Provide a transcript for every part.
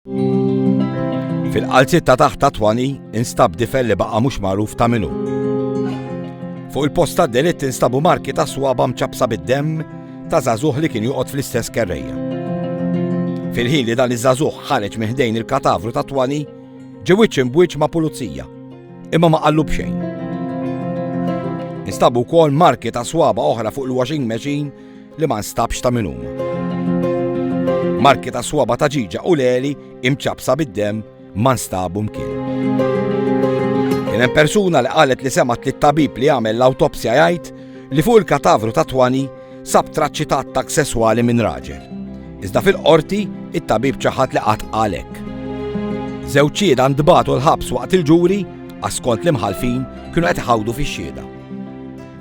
Fil-qalziet ta' taħt ta' twani instab difel li baqa' mhux magħruf ta' minu. Fuq il-post ta' delitt instabu marki ta' swaba mċabsa bid-demm ta' zazuħ li kien joqgħod fl-istess kerreja. Fil-ħin li dan iż-żagħżugħ ħareġ miħdejn il-katavru ta' twani, ġewwiċ imbwiċ ma' pulizija, imma ma qallu b'xejn. Instabu wkoll marki ta' swaba oħra fuq il-washing machine li ma nstabx ta' min huma. Marki ta' swaba ta' ġiġa u leli imċabsa bid-dem ma nstabu mkien. Kien hemm persuna li qalet li semat li tabib li għamel l-awtopsja jgħid li fuq il-katavru ta' twani sab traċċi ta' attak sesswali minn raġel. Iżda fil-qorti, it-tabib ċaħat li qatt għalek. Zewċieda ndbatu l-ħabs waqt il-ġuri, għaskont l-imħalfin kienu qed iħawdu fix-xieda.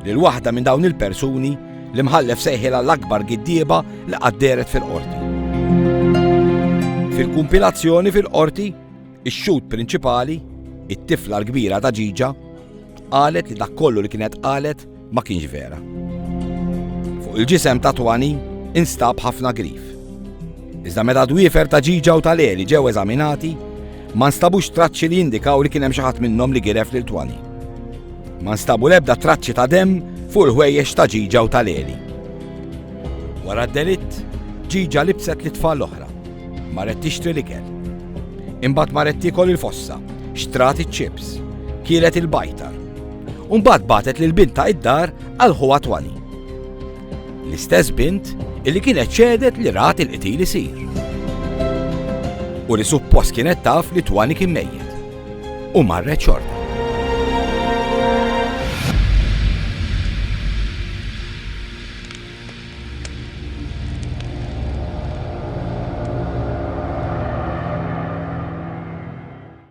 Lil waħda minn dawn il-persuni L-Imħallef sejħilha l-akbar giddieba li qatt dehret fil-Qorti. Fil-kumpilazzjoni fil-Qorti, ix-xhud prinċipali, it-tifla l-kbira ta' ġiġa, qalet li dak kollu li kienet qalet ma kienx vera. Fuq il-ġisem ta' Twani instab ħafna grif. Iżda meta dwiefer ta' ġiġa u tal-eli ġew eżaminati, Ma nstabux traċċi li jindikaw li kien hemm xi ħadd minnhom li giref lil Twani. Ma nstabu l-ebda traċċi ta' demm fuq il-ħwejjeġ ta' ġiġa u tal-eli. Wara d-delitt, ġiġa libset li tfal l-oħra. Marret tixtri l-ikel. Imbagħad marret tiekol il-fossa, xtrat iċ-ċips, kielet il-bajtar. Umbagħad batet lil bintha id-dar għal ħuha Twani. L-istess bint illi kienet xehdet li rat il-qtil isir. U li suppost kienet taf li Twani kien mejjet. U marret xorta.